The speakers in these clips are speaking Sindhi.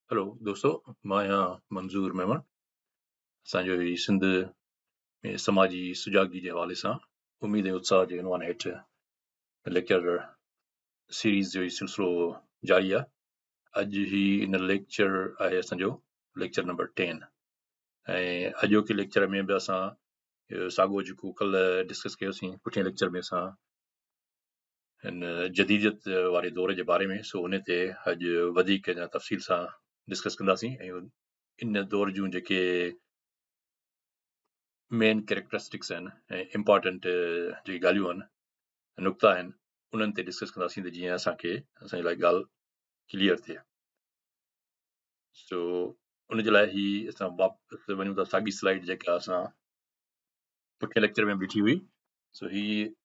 هلو دوستو مان آهيان منظور ميمڻ اسان جو هي سنڌ ۾ سماجي سجاڳي جي حوالي سان اميد ۽ اتساهه جي عنوان هيٺ ليڪچر سيريز جو هي سلسلو جاري آهي اڄ هي ان ليڪچر آهي اسان جو ليڪچر نمبر ٽين ۽ اڄوڪي ليڪچر ۾ به اسان ساڳو جيڪو ڪل ڊسڪس ڪيوسين پٺين ليڪچر ۾ اسان هن جديديت واري دور جي باري ۾ سو ان تي اڄ وڌيڪ اڃا تفصيل سان ڊسڪس ڪنداسين ۽ ان دور جون جيڪي مين ڪيريڪٽرسٽڪس آهن ۽ امپارٽنٽ جيڪي ڳالهيون آهن نقطا آهن انهن تي ڊسڪس ڪنداسين ته جيئن اسانکي اسان جي لاء ڳالهه ڪليئر ٿئي سو ان جي لاء هي اسان واپس وڃون ٿا ساڳي سلائيڊ جيڪا اسان پٺين ليڪچر ۾ بيٺي هئي سو هي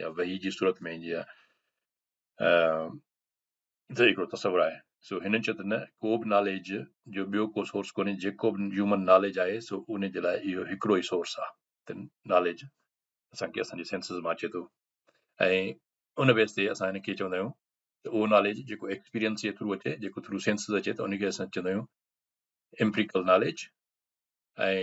يا وحي جي صورت ۾ ايندي آهي ته هڪڙو تصور آهي سو هنن چيو ته نه ڪو به ناليج جو ٻيو ڪو سورس ڪونهي جيڪو به هيومن ناليج آهي سو ان جي لاء اهو هڪڙو ئي سورس آهي ته ناليج اسانکي اسانجي سينسز مان اچي ٿو ۽ ان بيس تي اسان هن کي چوندا آهيون ته اهو ناليج جيڪو ايڪسپيرينس جي ٿرو اچي جيڪو ٿرو سينسز اچي ته ان کي اسان چوندا آهيون امپريڪل ناليج ۽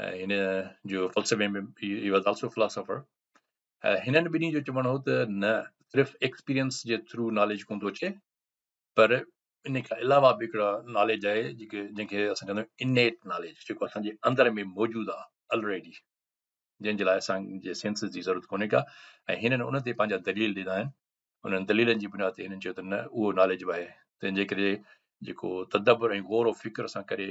۽ هن جو فلسفي ۾ هي واز آلسو فلاسافر هنن ٻنهي جو چوڻ هو ته نه صرف ايڪسپيرينس جي ٿرو ناليج ڪون ٿو اچي پر ان کان علاوه به هڪڙا ناليج آهي جيڪي جنهن کي اسان چوندا آهيون انيٽ ناليج جيڪو اسانجي اندر ۾ موجود آهي آلريڊي جنهن جي لاء اسان جي سينسز جي ضرورت ڪونهي ڪا ۽ هنن ان تي پنهنجا دليل ڏنا آهن انهن دليلن جي بنا تي هنن چيو ته نه اهو ناليج به آهي تنهن جي ڪري جيڪو تدبر ۽ غور و فڪر سان ڪري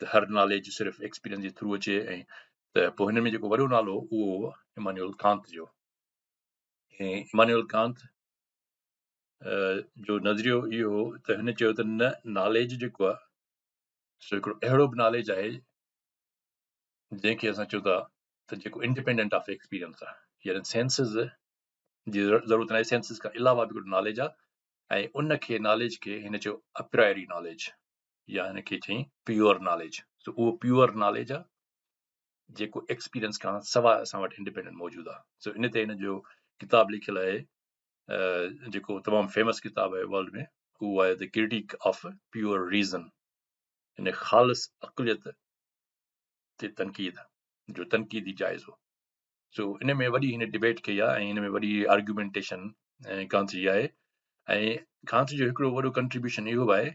ته هر ناليج صرف ايڪسپيرينس جي ٿرو اچي ۽ ته پوء هن ۾ جيڪو وڏو نالو اهو هو امانيول ڪانت جو ۽ امانيول ڪانت جو نظريو اهو هو ته هن چيو ته نه ناليج جيڪو آهي سو هڪڙو اهڙو به ناليج آهي جنهن کي اسان چون ٿا ته جيڪو انڊيپينڊنٽ آف ايڪسپيرينس آهي يعني سينسز جي ضرورت ناهي سينسز کان علاوه به هڪڙو ناليج آهي ۽ ان کي ناليج کي هن چيو اپرائري ناليج يا هن کي چئين پيور ناليج سو اهو پيور ناليج آ جيڪو ايڪسپيرينس کان سواء اسان وٽ انڊيپينڊنٽ موجود آ سو ان تي هن جو ڪتاب لکيل آهي جيڪو تمام فيمس ڪتاب آهي ورلڊ ۾ هو آهي ته ڪريٽيڪ آف پيور ريزن ان خالص اقليت تي تنقيد جو تنقيدي جائزو سو ان ۾ وڏي هن ڊبيٽ ڪئي آ ۽ ان ۾ وڏي آرگيومينٽيشن ڪانت جي آهي ۽ ڪانت جو هڪڙو وڏو ڪنٽريبيوشن اهو آهي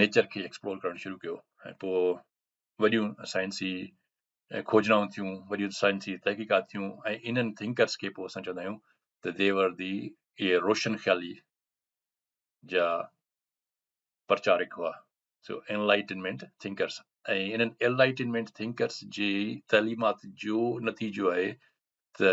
نيچر کي ايڪسپلور ڪرڻ شروع ڪيو ۽ پوء وڏيون سائنسي کوجنائون ٿيون وڏيون سائنسي تحقيقات ٿيون ۽ انهن ٿنڪرس کي پوء اسان چوندا آهيون ته ديور دي اهي روشن خيالي جا پرچارڪ هئا سو انلائٽنمينٽ ٿنڪرس ۽ انهن انلائٽنمينٽ ٿنڪرس جي تعليمات جو نتيجو آهي ته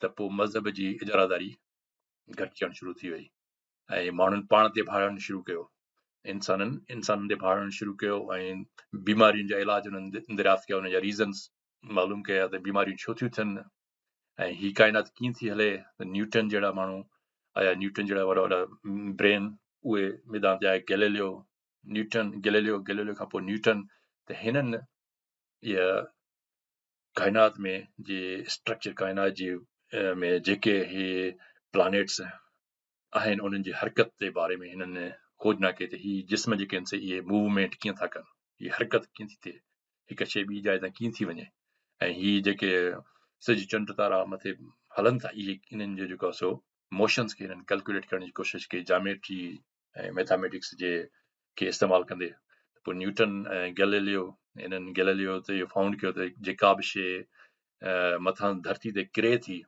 ته پوء مذهب جي اجاراداري گهٽجڻ شروع ٿي وئي ۽ ماڻهن پاڻ تي ڀاڙڻ شروع ڪيو انسانن انسانن تي ڀاڙڻ شروع ڪيو ۽ بيمارين جا علاج انهن دريافت ڪيا ان جا ريزنس معلوم ڪيا ته بيماريون ڇو ٿيون ٿين ۽ هي ڪائنات ڪيئن ٿي هلي ته نيوٽن جهڙا ماڻهو آيا نيوٽن جهڙا وڏا وڏا برين اهي ميدان تي آيا گيليليو نيوٽن گيليليو گيليليو کان پوء نيوٽن ته هنن ڪائنات ۾ جي اسٽرڪچر ڪائنات جي ۾ جيڪي هي پلانيٽس آهن انهن جي حرڪت جي باري ۾ هنن کوجنا ڪئي ته هي جسم جيڪي آهن سي اهي موومينٽ ڪيئن ٿا ڪن هي حرڪت ڪيئن ٿي ٿئي هڪ شيء ٻي جاء تان ڪيئن ٿي وڃي ۽ هي جيڪي سج چنڊ تارا مٿي هلن ٿا اهي انهن جو جيڪو سو موشنس کي هنن ڪيلڪوليٽ ڪرڻ جي ڪوشش ڪئي جاميٽري ۽ ميٿاميٽڪس جي کي استعمال ڪندي پوء نيوٽن ۽ گيليليو انهن گيليليو ته اهو فائونڊ ڪيو ته جيڪا به شيء مٿان ڌرتي تي ڪري ٿي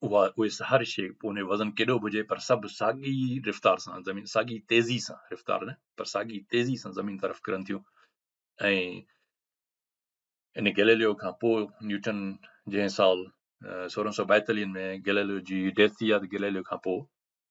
اها اهي هر شيء ان جو وزن ڪيڏو به هجي پر سڀ ساڳي رفتار سان زمين ساڳي تيزي سان رفتار نه پر ساڳي تيزي سان زمين طرف ڪرن ٿيون ۽ ان گيليليو کان پوء نيوٽن جنهن سال سورهن سو ٻائيتاليهن ۾ گيليليو جي ڊيٿ ٿي آهي ته گيليليو کان پوء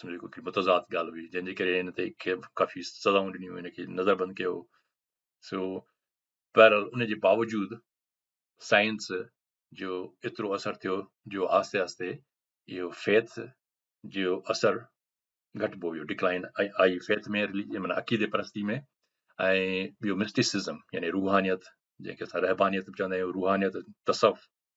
سمجهو ڪو ڪهڙي متضاد ڳالهه هئي جنهن جي ڪري هن تي ڪافي سزائون ڏنيون هن کي نظر بند ڪيو سو بهرحال ان جي باوجود سائنس جو ايترو اثر ٿيو جو آهستي آهستي اهو فيت جو اثر گهٽبو ويو ڊڪلائن آئي فيت ۾ مانا عقيدي پرستي ۾ ۽ ٻيو مسٽيسزم يعني روحانيت جنهنکي اسان رهبانيت به چوندا آهيون روحانيت تصوف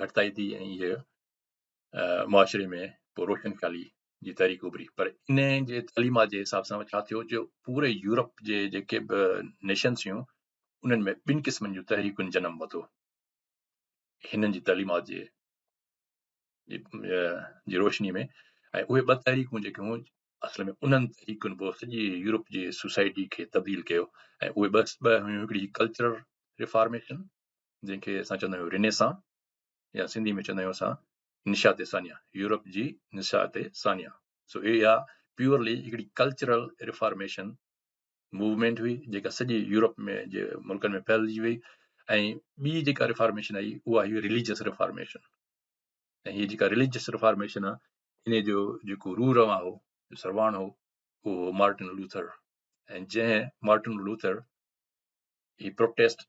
گهٽتائي ٿي ۽ هيء معاشري ۾ پوء روشن خيالي جي تحريڪ اڀري پر ان جي تعليمات جي حساب سان ڇا ٿيو جو پوري يورپ جي جيڪي به نيشنس هيون انهن ۾ ٻن قسمن جون تحريڪن جنم ورتو هنن جي تعليمات جي جي روشني ۾ ۽ اهي ٻه تحريڪون جيڪي هيون اصل ۾ انهن تحريڪن پوء سڄي يورپ جي سوسائٽي کي تبديل ڪيو ۽ اهي بس ٻه هيون هڪڙي ڪلچرل ريفارميشن جنهن کي اسان چوندا آهيون رنيسان يا سنڌي ۾ چوندا آهيون اسان نشات ثانيه يورپ جي نشات ثانيه سو اها پيورلي هڪڙي ڪلچرل ريفارميشن موومينٽ هئي جيڪا سڄي يورپ ۾ جي ملڪن ۾ ڦهلجي وئي ۽ ٻي جيڪا ريفارميشن آئي اها هئي رليجس ريفارميشن ۽ هي جيڪا رليجس ريفارميشن آهي ان جو جيڪو رو رواں هو سرواڻ هو اهو مارٽن لوٿر ۽ جنهن مارٽن لوٿر هي پروٽيسٽ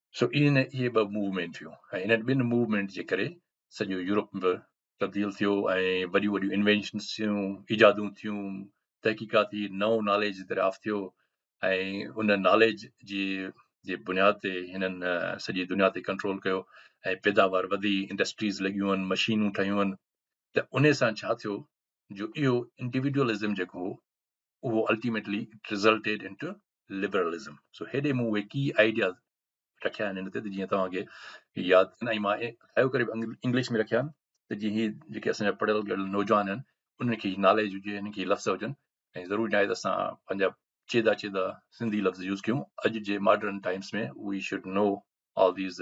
سو ايئن نه اهي ٻه موومينٽ ٿيون ۽ انهن ٻن موومينٽ جي ڪري سڄو يورپ به تبديل ٿيو ۽ وڏيون وڏيون انوينشنس ٿيون ايجادون ٿيون تحقيقاتي نئون ناليج دريافت ٿيو ۽ ان ناليج جي جي بنياد تي هنن سڄي دنيا تي ڪنٽرول ڪيو ۽ پيداوار وڌي انڊسٽريز لڳيون آهن مشينون ٺهيون آهن ته ان سان ڇا ٿيو جو اهو انڊيوڊوئلزم جيڪو هو اهو ultimately it resulted in to liberalism سو هيڏي مون اهي ڪي آئيڊياز رکيا آهن هن تي ته جيئن توهان کي ياد ڪن ۽ مان اهو ڪري انگلش ۾ رکيا آهن ته جيئن هي جيڪي اسان جا پڙهيل ڳڙهيل نوجوان آهن انهن کي ناليج هجي انهن کي لفظ هجن ۽ ضرور جائي ته اسان پنهنجا چيدا چيدا سنڌي لفظ يوز ڪيون اڄ جي modern times ۾ we should know all these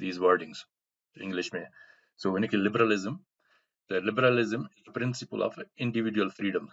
these wordings English ۾ سو هن کي liberalism The liberalism is the principle of individual freedoms.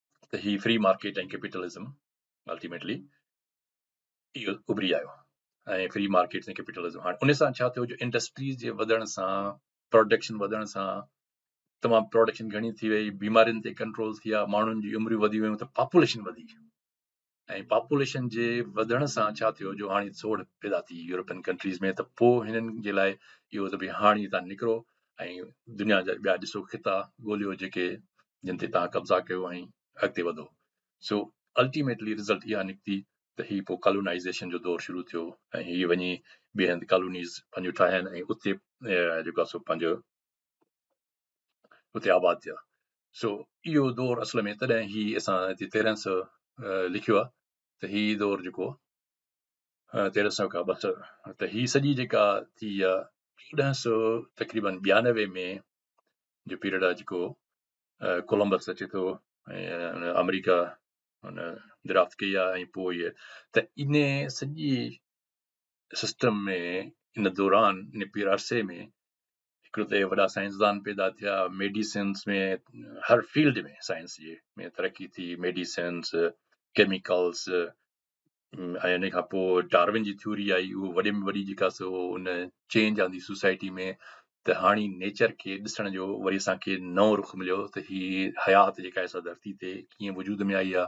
ته هي فري مارڪيٽ ۽ ڪيپيٽلزم الٽيميٽلي اهو اڀري آيو ۽ فري مارڪيٽس ۽ ڪيپيٽلزم هاڻي ان سان ڇا ٿيو جو انڊسٽريز جي وڌڻ سان پروڊڪشن وڌڻ سان تمام پروڊڪشن گهڻي ٿي وئي بيمارين تي ڪنٽرول ٿي ويا ماڻهن جي عمريون وڌي ويون ته پاپوليشن وڌي ۽ پاپوليشن جي وڌڻ سان ڇا ٿيو جو هاڻي سوڙهه پيدا ٿي يورپين ڪنٽريز ۾ ته پوء هنن جي لاء اهو ته ڀي هاڻي هتان نڪرو ۽ دنيا جا ٻيا ڏسو خطا ڳوليو جيڪي جن تي توهان قبضا ڪيو ۽ اڳتي وڌو سو الٽيميٽلي رزلٽ اها نڪتي ته هي پوء ڪالونائيزيشن جو دور شروع ٿيو ۽ هي وڃي ٻئي هنڌ ڪالونيز پنهنجو ٺاهين ۽ اتي جيڪو سو پنهنجو اتي آباد ٿيا سو اهو دور اصل ۾ تڏهن هي اسان هتي تيرهن سو لکيو آهي ته هي دور جيڪو تيرهن سو کان ٻه سو ته هي سڄي جيڪا ٿي آ چوڏهن سو تقريبن ٻيانوي ۾ جو پيريڊ آ جيڪو ڪولمبس اچي ٿو ۽ آمريڪا هن درافت ڪئي آ ۽ پوء ته ان سڄي سسٽم ۾ ان دوران ان پير عرصي ۾ هڪڙو ته وڏا سائنسدان پيدا ٿيا ميڊيسنس ۾ هر فيلڊ ۾ سائنس جي ۾ ترقي ٿي ميڊيسنس ڪيميڪلس ۽ ان کان پوء ڊارون جي ٿيوري آئي اهو وڏي ۾ وڏي جيڪا سو ان چينج آندي سوسائٽي ۾ ته هاڻي نيچر کي ڏسڻ جو وري اسانکي نئون رخ مليو ته هي حيات جيڪا اسان ڌرتي تي ڪيئن وجود ۾ آئي آهي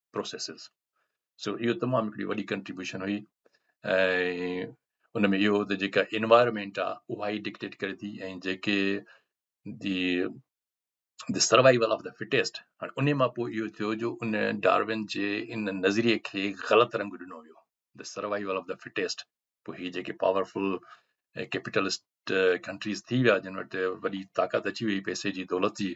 پروسيسز سو اهو تمام هڪڙي وڏي ڪنٽريبيوشن هئي ۽ ان ۾ اهو ته جيڪا انوائرمنٽ آ اها ئي ڊڪٽيٽ ڪري ٿي ۽ جيڪي the the survival of the fittest هاڻي ان مان پوء اهو ٿيو جو ان ڊارون جي ان نظريي کي غلط رنگ ڏنو ويو the survival of the fittest پوء هي جيڪي پاورفل ڪيپيٽلسٽ ڪنٽريز ٿي ويا جن وٽ وڏي طاقت اچي وئي پئسي جي دولت جي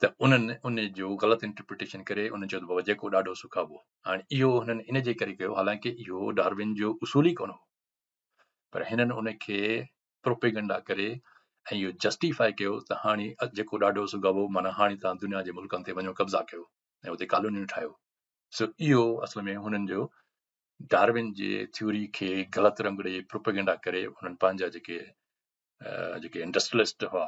ته انهن ان جو غلط انٽرپريٽيشن ڪري ان چيو ته بابا جيڪو ڏاڍو سکابو هاڻي اهو هنن ان جي ڪري ڪيو حالانڪه اهو ڊارون جو اصول ئي ڪونه هو پر هنن ان کي پروپيگنڊا ڪري ۽ اهو جسٽيفائي ڪيو ته هاڻي جيڪو ڏاڍو سگهبو مانا هاڻي تان دنيا جي ملڪن تي وڃو قبضا ڪيو ۽ اتي ڪالونيون ٺاهيو سو اهو اصل ۾ هنن جو ڊاروين جي ٿيوري کي غلط رنگ ڏيئي پروپيگنڊا ڪري انهن پنهنجا جيڪي جيڪي انڊسٽريلسٽ هئا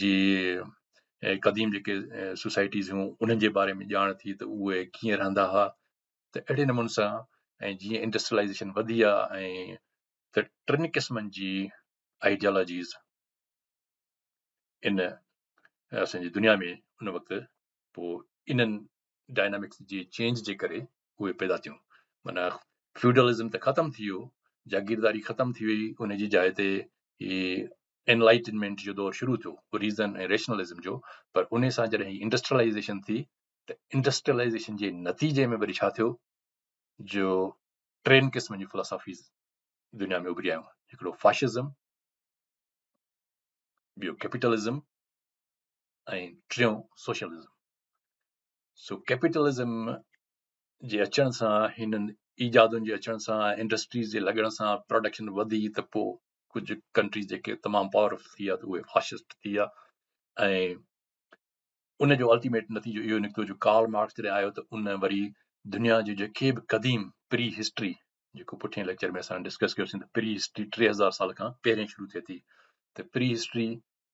جي قديم جيڪي سوسائٽيز هيون انهن جي باري ۾ ڄاڻ ٿي ته اهي ڪيئن رهندا هئا ته اهڙي نموني سان ۽ جيئن انڊسٽرلائزيشن وڌي آهي ۽ ته ٽن قسمن جي آئيڊيالوجيز ان اسان جي دنيا ۾ ان وقت پوء انهن ڊائنامڪس جي چينج جي ڪري اهي پيدا ٿيون معنيٰ فيوڊلزم ته ختم ٿي ويو جاگيرداري ختم ٿي وئي ان جي جاء تي هي انلائٽنمينٽ جو دور شروع ٿيو ريزن ۽ ريشنلزم جو پر ان سان جڏهن هي انڊسٽريلائزيشن ٿي ته انڊسٽريلائزيشن جي نتيجي ۾ وري ڇا ٿيو جو ٽن قسمن جون فلاسافيز دنيا ۾ اڀري آيون هڪڙو فاشزم ٻيو ڪيپيٽلزم ۽ ٽيون سوشلزم سو ڪيپيٽلزم جي اچڻ سان هنن ايجادن جي اچڻ سان انڊسٽريز جي لڳڻ سان پروڊڪشن وڌي ته پوء ڪجهه ڪنٽريز جيڪي تمام پاورفل ٿي ويا ته اهي فاشسٽ ٿي ويا ۽ ان جو الٽيميٽ نتيجو اهو نڪتو جو ڪارل مارڪس جڏهن آيو ته ان وري دنيا جي جيڪي به قديم پري هسٽري جيڪو پٺين ليڪچر ۾ اسان ڊسڪس ڪيوسين ته پري هسٽري ٽي هزار سال کان پهرين شروع ٿئي ٿي ته پري هسٽري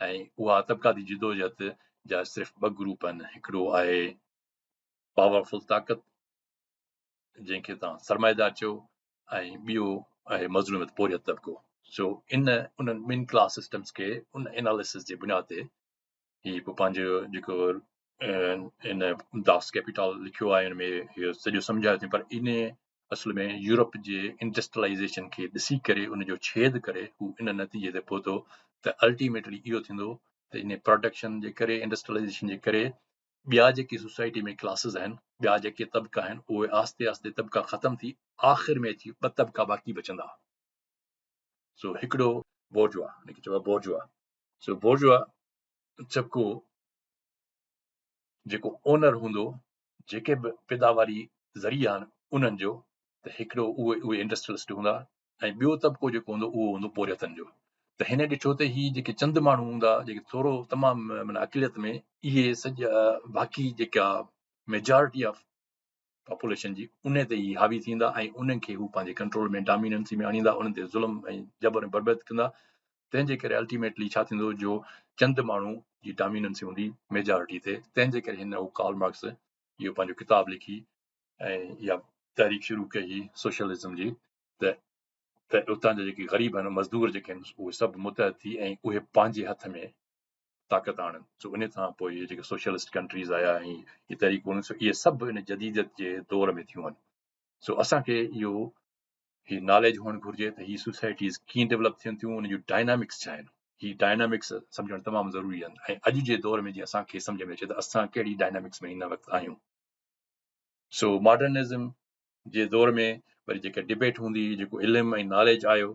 ۽ اها طبقاتي جدوجهد جا صرف ٻه گروپ آهن هڪڙو آهي پاورفل طاقت جنهن کي تان سرمائيدار چيو ۽ ٻيو آهي مظلومت پوريت طبقو سو ان انهن ٻن ڪلاس سسٽمس کي ان اناليسس جي بنياد تي هي پنهنجو جيڪو ان داس ڪيپيٽال لکيو آهي ان ۾ اهو سڄو سمجهايو اٿئي پر ان اصل ۾ يورپ جي انڊسٽرلائيزيشن کي ڏسي ڪري ان جو ڇيد ڪري هو ان نتيجي تي پهتو ته الٽيميٽلي اهو ٿيندو ته ان پروڊڪشن جي ڪري انڊسٽرلائيزيشن جي ڪري ٻيا جيڪي سوسائٽي ۾ ڪلاسز آهن ٻيا جيڪي طبقا آهن اهي آهستي آهستي طبقا ختم ٿي آخر ۾ اچي ٻه طبقا باقي بچندا سو هڪڙو بورجوا هن کي چئبو بورجوا سو بورجوا چپڪو جيڪو اونر هوندو جيڪي به پيداواري ذريعا آهن انهن جو ته هڪڙو اهي اهي انڊسٽريلسٽ هوندا ۽ ٻيو طبقو جيڪو هوندو اهو هوندو پورهيتن جو ته هن ڏٺو ته هي جيڪي چند ماڻهو هوندا جيڪي ٿورو تمام معنی اقليت ۾ اهي سڄا باقي جيڪا ميجارٽي آف پاپوليشن جي ان تي ئي حاوي ٿيندا ۽ انهن کي هو پنهنجي ڪنٽرول ۾ ڊاميننسي ۾ آڻيندا انهن تي ظلم ۽ جبر ۽ بربت ڪندا تنهن جي ڪري الٽيميٽلي ڇا ٿيندو جو چند ماڻهو جي ڊاميننسي هوندي ميجارٽي تي تنهن جي ڪري هن هو ڪارل مارڪس اهو پنهنجو ڪتاب لکي ۽ اها تحريڪ شروع ڪئي هي سوشلزم جي ته ته اتان جا جيڪي غريب آهن مزدور جيڪي آهن اهي سڀ متحد ٿي ۽ اهي پنهنجي هٿ ۾ طاقت آڻن سو ان کان پوء اهي جيڪي سوشلسٽ ڪنٽريز آيا ۽ اهي تحريڪون هيون سو اهي سڀ ان جديديت جي دور ۾ ٿيون آهن سو اسان کي اهو هي ناليج هئڻ گهرجي ته هي سوسائٽيز ڪيئن ڊيولپ ٿين ٿيون ان جون ڊائنامڪس ڇا آهن هي ڊائنامڪس سمجھڻ تمام ضروري آهن ۽ اڄ جي دور ۾ جي اسان کي سمجھ ۾ اچي ته اسان ڪهڙي ڊائنامڪس ۾ هن وقت آهيون سو ماڊرنزم جي دور ۾ وري جيڪا ڊبيٽ هوندي جيڪو علم ۽ ناليج آيو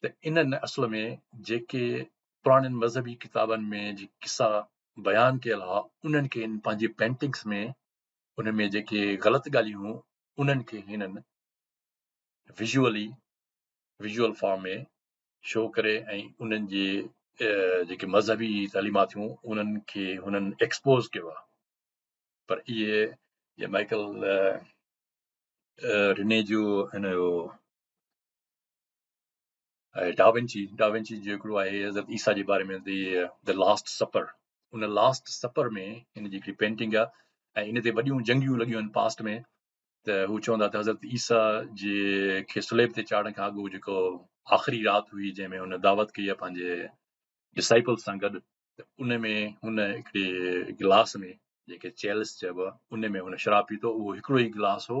ته انهن اصل ۾ جيڪي پراڻين مذهبي ڪتابن ۾ جي قصا بيان ڪيل ها انهن کي هن پنهنجي پينٽنگس ۾ ان ۾ جيڪي غلط ڳالهيون هيون انهن کي هنن ويزولي ويزول فارم ۾ شو ڪري ۽ انهن جي جيڪي مذهبي تعليمات هيون انهن کي هنن ايڪسپوز ڪيو آهي پر اهي جي مائيڪل رني جو هن جو ۽ ڊاونچي ڊاونچي جو هڪڙو آهي حضرت عيسيٰ جي باري ۾ د لاسٽ سپر ان لاسٽ سپر ۾ هن جي هڪڙي پينٽنگ آهي ۽ ان تي وڏيون جنگيون لڳيون آهن پاسٽ ۾ ته هو چوندا ته حضرت عيسيٰ جي کي سليب تي چاڙهڻ کان اڳو جيڪو آخري رات هئي جنهن ۾ هن دعوت ڪئي آهي پنهنجي ڊسائپل سان گڏ ته ان ۾ هن هڪڙي گلاس ۾ جنهن کي چيلس چئبو آهي ان ۾ هن شراب پيتو اهو هڪڙو ئي گلاس هو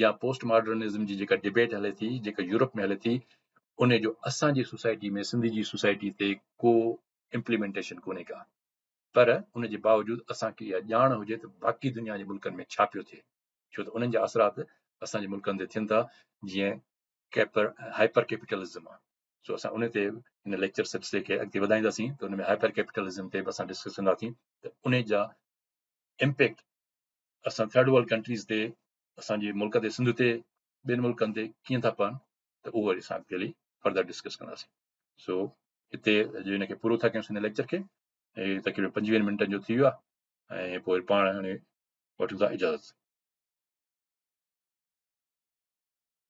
يا پوسٽ ماڊرنزم جي جيڪا ڊبيٽ هلي ٿي جيڪا يورپ ۾ هلي ٿي ان جو اسان جي سوسائٽي ۾ سنڌ جي سوسائٽي تي ڪو امپليمنٽيشن ڪونهي ڪا پر ان جي باوجود اسانکي اها ڄاڻ هجي ته باقي دنيا جي ملڪن ۾ ڇا پيو ٿئي ڇو ته انهن جا اثرات اسانجي ملڪن تي ٿين ٿا جيئن ڪيپر هائپر ڪيپيٽلزم آهي سو اسان ان تي هن ليڪچر سلسلي کي اڳتي وڌائينداسين ته ان ۾ هائپر ڪيپيٽلزم تي به اسان ڊسڪس ڪنداسين ته ان جا امپيڪٽ اسان ٿرڊ ورلڊ ڪنٽريز تي اسان جي ملڪ تي سنڌ تي ٻين ملڪن تي ڪيئن ٿا پون ته اهو وري اسان اڳتي فردر ڊسڪس ڪنداسين سو هتي جو هن کي پورو ٿا ڪيون سن ليڪچر کي هي تقريبن پنجويهن منٽن جو ٿي ويو آهي ۽ پوء پاڻ هاڻي وٺون ٿا اجازت